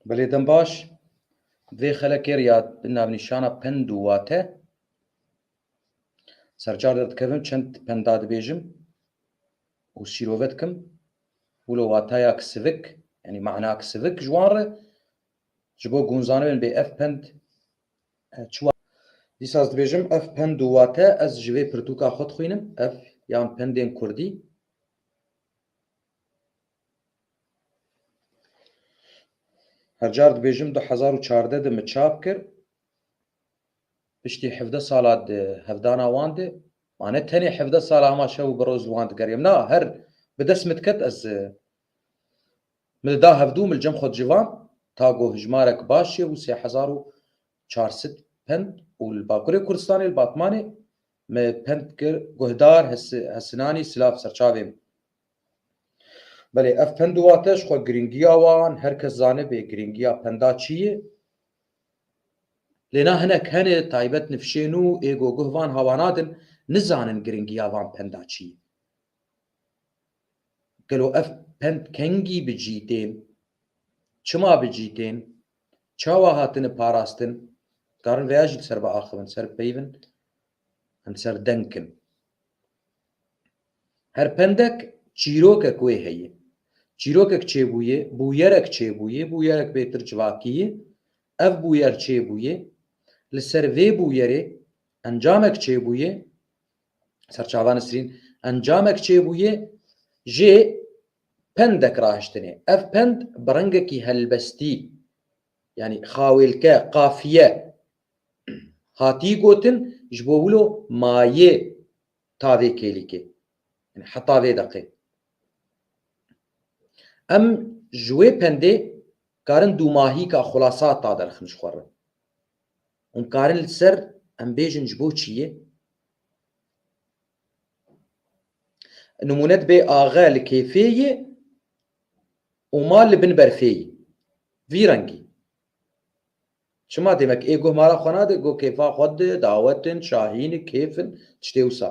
Belê dem baş vê xelekê rê ya bi navnîşana pend û wate sercar de dikevim çend penda dibêjim û sîrove dikim wilo wataya ki sivik yanî mana ki sivik ji wan re ji bo gunzanibin bê ev pend çi wa dîsa ez dibêjim ev pend û wate ez ji vê pirtûka xwe dixwînim ev yan pendên kurdî Her car dibêjim du hezar û çardeh de min çap kir. Piştî hevdeh sala di hevdana wan de ma ne tenê hevdeh sala hema şev û bi roz li wan digeriyam. Na her bi dest min diket ez min dida hevdû min li cem xwe dicivam ta ku hijmarek baş çêbû sê hezar û çar sed pend û li Bakurê Kurdistanê li Batmanê min pend kir guhdar Hesinanî silav serçavên Belê ev pend û wate ji xwe girîngiya wan her kes zanibê girîngiya penda çi ye. Lê na hinek hene taybet nifşên û êgo guh van hawa nadin nizanin girîngiya van penda çi ye. Gelo ev pend kengî bi cî tên? Çima bi cî tên? Çawa hatine parastin? Dikarin vêya jî li ser biaxivin, li ser bipeyivin em serdeng kin. Her pendek çîrokek wê heye. Çîrokek çêbûye, bûyerek çêbûye, bûyerek bêtir civakîye, ev bûyer çêbûye, li ser vê bûyerê encamek çêbûye, ser çava Nisrîn encamek çêbûye, jê pendek rahiştinê. Ev pend bi rengekî helbestî Yanî xawêlke, qafiye hatî gotin ji bo wilo mayê ta vê kêlîkê. Yanî heta vê deqê. Em ji wê pendê karin dûmahîka xulasa ta derxin ji xwe re. Hûn karin li ser em bêjin ji bo çiyê? Nimûne dibe axe li kêfê yê û ma li bin berfê yê. Vî rengî. Çima demek ê guh mala xwe nade, guh kêfa xwe dide, dawet in, şahîn in, kêf in, tiştê wisa.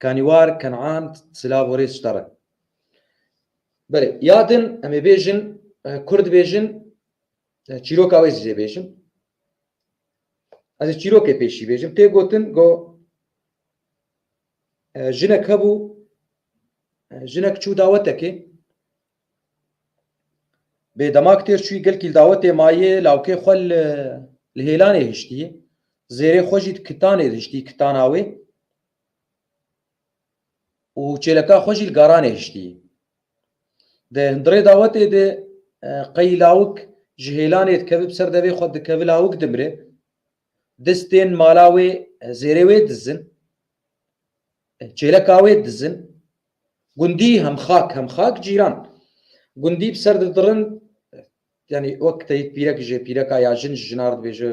Kanîwar, Kenan, silav û rêz şter in. Belê, ya din em ê bêjin, kurd bêjin Çîroka wê zî bêjim. Ez ê çîrokê pêşî bêjim. Tê gotin go jinek hebû jinek çû dawetekê bê demak têr çûyî gelkîl dawetê mayê lawkê xwe li hêlanê hiştî zêrê xwe jî di kitanê hiştî kitana wê û çêleka xwe jî li garanê hiştî. Di hundirê dawetê de qey lawik ji hêlanê dikeve bi ser devê xwe dikeve lawik dimire, distên mala wê zêrê wê dizin, çêleka wê dizin, gundî hem xak hem xak cîran gundî bi ser didirin, Yanî wek teyîk pîrek ji pîreka ya jin ji jinar dibêje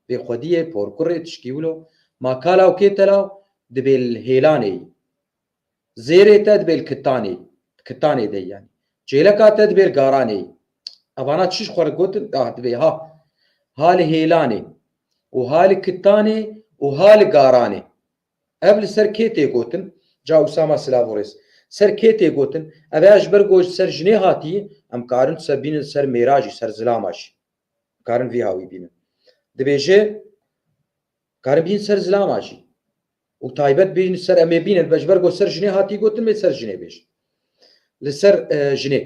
bê xwediyê, porkurê, tişkî wilo. Ma kala û kê telaw dibê li hêlanê yî. Zêrê te dibê li kittanê yî. Li kittanê de yî yanî. Çêleka te dibê li garanê yî. Evana çi ji xwe re gotin? Ah dibê ha. Ha li hêlanê û ha li kittanê û ha li garanê. Ev li ser kê tê gotin? Ca Usama silav û rêz. Ser kê tê gotin? Ev ya ji ber ku ji ser jinê hatiye, em karin tu se bînin li ser mêra jî, ser zilama jî. Em karin vî ha wî bînin. Dibêje, karin bînin ser zilama jî. Û taybet bînin li ser em ê bînin. Ji ber ku ser jinê hatiye gotin, em ê li ser jinê bêjin. Li ser jinê.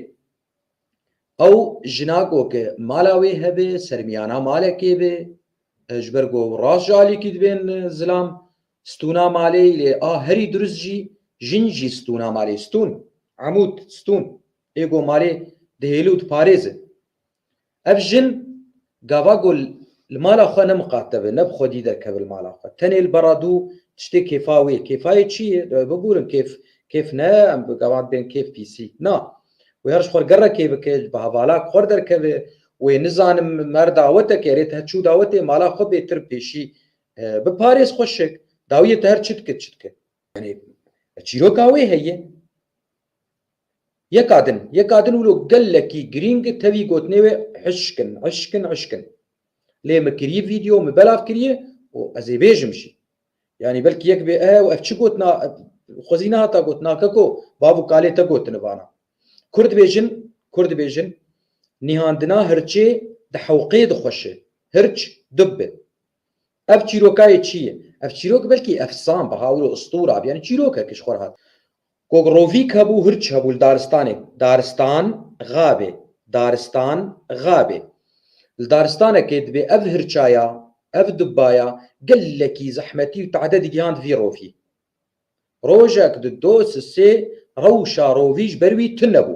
Ew jina ku ke mala wê hebe sermiyana malekê be ji ber ku ew rast ji alîkî dibên zilam stûna malê lê a herî dirust jî jin jî stûna malê stûn, emûd, stûn, ê ku malê dihêle û diparêze. Ev jin gava ku li mala xwe ne miqatebe, ne bi xwedî derkeve li mala xwe. Tenê li bera dû tiştê kêfa wê ye. Kêfa yê çi ye? Dawê bigurin kêf, kêf ne em bi gava dibên kêf pîsî. Na. Wê her ji xwe re gerekê bike, bi hevala xwe re derkeve. Wê nizanim mer dawete ke erê te her çi û dawetê mala xwe bêtir pêşî biparêz xweşik. Dawiyê te her çi dike çi dike. Yanî çîroka wê heye. Yeka din, yeka din wilo gelekî girîng tevî gotinê wê hişkin, hişkin, hişkin. Lê min kirî vîdyo, min belav kirî û ez ê bêjim jî. Yanî belkî yek bê ehe û ev çi gotina xwezî nehata gotin a keko, bav û kalê te gotini vana. Kur dibêjin, kur dibêjin, nîhandina hirçê di hewqê dixweşe, hirç dub be. Ev çîrokayê çi ye? Ev çîrok belkî efsan be ha wilo istûra be, yanî çîrokek ji xwe re hat. Gogrovîk hebû hirç hebû li daristanê Daristan xabê Daristan xabê Li daristanekê dibê ev hirçaya ev dubaya gelekî zehmetî û te'dedî gihand vî rovî Rojek di do si sê rewşa rovî ji ber wî tune bû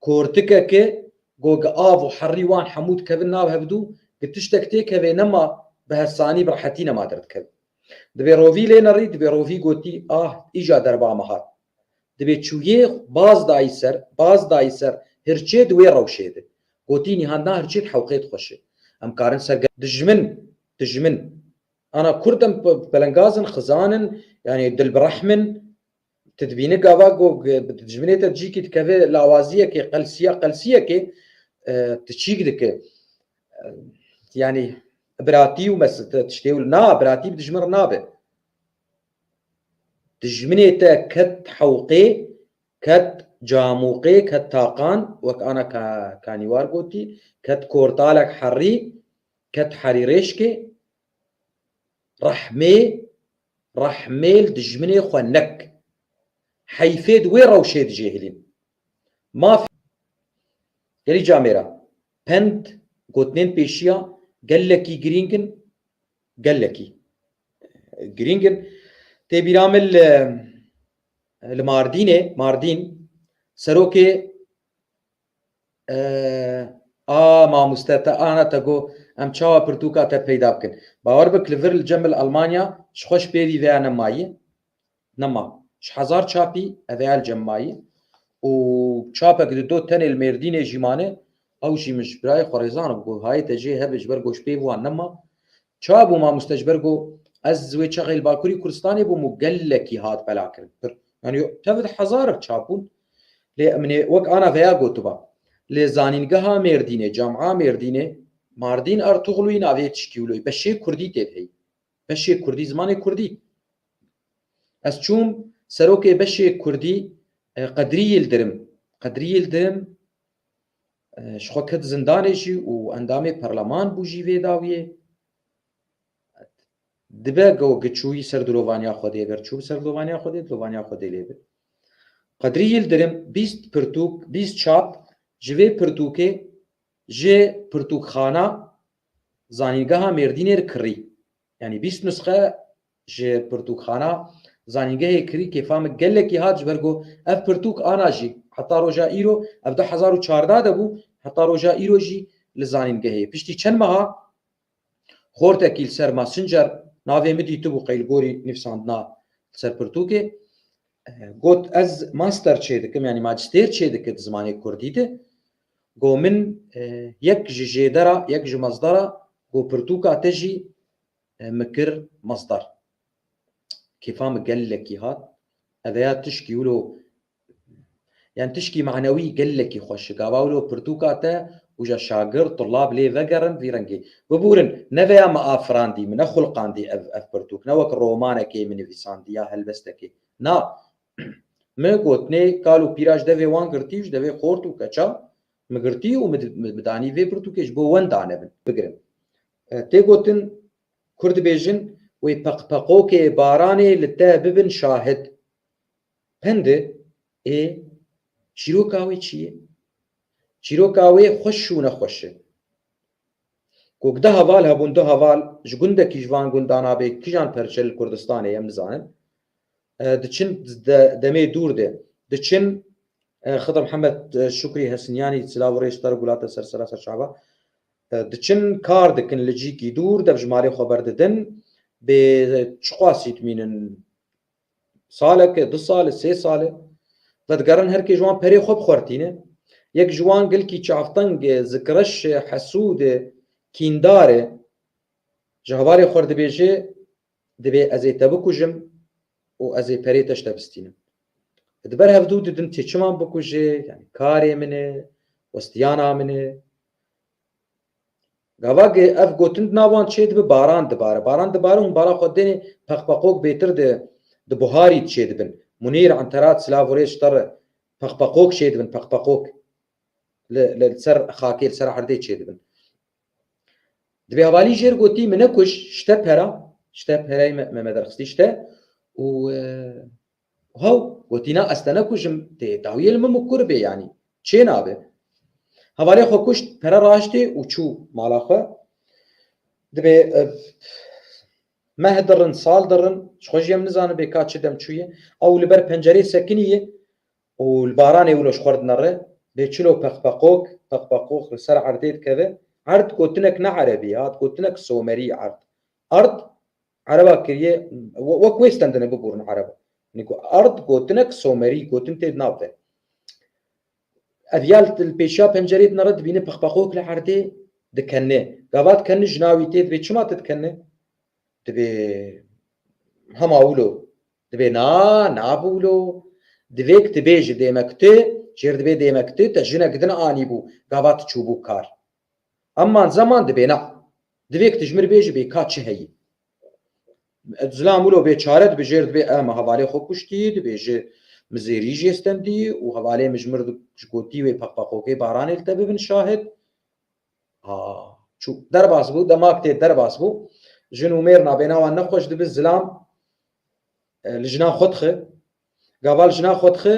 Kortikeke go gi av û herrî wan hemû dikevin nav hevdû, gi tiştek têk hevê nema bi hesanî bi rehetî nema derdikevin. Dibê rovî lê nerî, dibê rovî gotî ah îja derba me hat. Dibê çûyê baz dayî ser, baz dayî ser hirçê di wê rewşê de. Gotî nîhan na hirçê di hewqê di xweş e. Em karin ser gel. Dijmin, dijmin. Ana kurd em pelengaz in, xizan in, yanî dilbirehm in, Tu dibînî gava ku bi dijminê te cîkî dikeve lawaziyekê qelsiya qelsiyekê tu çîk dike. Yanî biratî û mes tiştê û na biratî bi dijmin re nabe. Dijminê te ket hewqê, ket camûqê, ket taqan wek ana kanîwar gotî, ket kortalek herî, ket herîrêşkê, Rehmê rehmê li dijminê xwe nek. Heyfê di wê rewşê dijêhilîn. Maf Gelî ca mêra. Pend, gotinên pêşiya gelekî girîng in, gelekî girîng in. Tê bîra min li li Mardînê, Mardîn, serokê A mamoste te ana te got em çawa pirtûka te peyda bikin. Bawer bik li vir li Cemil Almanya ji xwe ji pêvî vêya ne mayî ne ma. Ji hezar çapî ev vêya li cem mayî û çapek di do tenê li Mêrdînê jî mane ew jî min ji birayê xwe rêzan û got hayê te jê hebe ji ber ku ji pêv wan ne ma. Ça bû mamoste ji ber ku ez wê çaxê li Bakurî Kurdistanê bûm û gelekî hat belakirin pir yanî tevd hezar bi çap bûn lê min ê wek ana veya gotiba li zanîngeha Mêrdînê, Camia Mêrdînê, Mardîn Ertuxlûyî navê yê tişkî wilo yî beşê kurdî tê de heyî beşê kurdî zimanê kurdî ez çûm serokê beşê kurdî Qedrî Yildirim Qedrî Yildirim Ji xwe ket zindanê jî û endamê perleman bû jî vê dawiyê. Dibe ku giçûyî ser dilovaniya Xwedê ger çû bi ser dilovaniya Xwedê, dilovaniya Xwedê lê bi. Qedrî Yildirim bîst pirtûk, bîst çap ji vê pirtûkê ji Pirtûkxana Zanîngeha Mêrdînê re kirî. Yanî bîst nusxe Ji pirtûkxana zanîngehê Krîkê famik gelekî hat ji ber ku ev pirtûk ana jî heta roja îro ev du hezar û çardeh de bû heta roja îro jî li zanîngehê piştî çend meha xortekî li ser Messenger navê min dîtibû qeyl gorî nivîsandina li ser pirtûkê got ez master çê dikim yanî macistêr çê dike di zimanê kurdî de got min yek ji jêdera yek ji mezdera got pirtûka te jî Me kir masdar. Kêfa min gelekî hat. Eve ya tişkî wilo yan tişkî manewî gelekî xweş e. Gava wilo pirtûka te û ja şagird, tulab lê vegerin vî rengê. Biburin, neve ya min a firandî, min nexulqandî ev ev pirtûk. Ne wek romanekê min nivîsandî ya helbestekê. Na. Min gotinê kal û pîra ji devê wan girtî û ji devê xort û keça min girtî û min danî vê pirtûkê ji bo wenda ne bin, bigirin. Tê gotin, Kurd dibêjin, wê peqpeqokê baranê li te bibin şahid. Pindi, ê, çîroka wê çi ye? Çîroka wê xweş û nexweş e. Ku du heval hebûn, du heval ji gundekî ji van gundan a bê kijan perçe li Kurdistanê ye em nizanin, diçin demê dûr de diçin Xidr Mihemed Şukrî Hesnîyanî silav û rê ji te re gulate ser sera serçava. Diçin, kar dikin li cîkî dûr, dev ji malê xwe berdidin. Bê çiqasî dimînin. Salek e, du sal e, sê sal e. Vedigerin her kê ji wan perê xwe bi xwe re tîne. Yek ji wan gilkî çavteng e, zikreş e, hesûd e, kîndar e. Ji hevalê xwe re dibêje, Divê ez ê te bikujim û ez ê perê te ji te bistînim. Di ber hevdû didim tu çima min bikujê, yanî karê min e, westiyana min e. Gava ge ev gotin di nav wan çê dibe baran dibare. Baran dibare hûn bala xwe dênê peqpeqok bêtir di di buharî di çê dibin. Munîr, Enterat, Silav û Rêç Terre peqpeqok çê dibin, peqpeqok li li ser xakê li ser erdê çê dibin. Divê hevalî jêr gotî min nekuj şte pera şte pereyê me me derxistî şte û haw gotî na ez te nekujim tê dawiyê li min bi kur bê yanî çê nabe. Hevalê xwe kuşt pere raştê û çû mala xwe divê meh dirin sal dirin ji xwe jî em nizanibê ka çi dem çûye ew li ber pencereyê sekinî ye Û li baranê wilo ji xwe re dinere, bê çilo peqpeqok, peqpeqok li ser erdê dikeve. Erd gotinek ne erebî ye, hat gotinek somerî erd. Erd, ereba kiriye, wek wê stendine biborin ereba. Yanî ku erd gotinek somerî, gotin tê di nav de. Ev ya li pêşiya pencereyê dinere, dibîne peqpeqok li erdê dikenine. Gava dikenine jina wî tê dibê, çima tu dikenine? Dibê hema wilo Dibê na, na bûlo. Divê ku tu bê ji dême ku tu, jêr dibê dême ku tu te jinek din anîbû, gava tu çûbû kar. Eman zeman dibê na. Divê ku tu ji min re bêjî bê ka çi heyî. Zilam wilo bê çare dibê jêr dibê eh min hevalê xwe kuştî, dibê ji min zêrî jê stendî û hevalê min ji mir ji gotî wê peqpeqokê baranê li te bibin şahid. A, çû. Derbas bû, demak tê derbas bû. Jin û mêr nabêna wan nexweş dibi, zilam e, li jinan xwe dixi. Gava li jinan xwe dixi,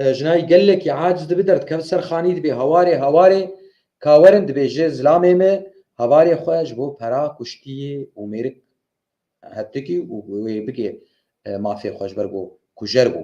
e, jinayî gelekî aciz dibi derdikevin ser xanî dibê hawarê hawarê kawerin dibêje zilamê me havarê xwe ji bo pera kuştiyê û mêrik hetikî û wê bigê e, mafê xwe ji ber ku kujer bû.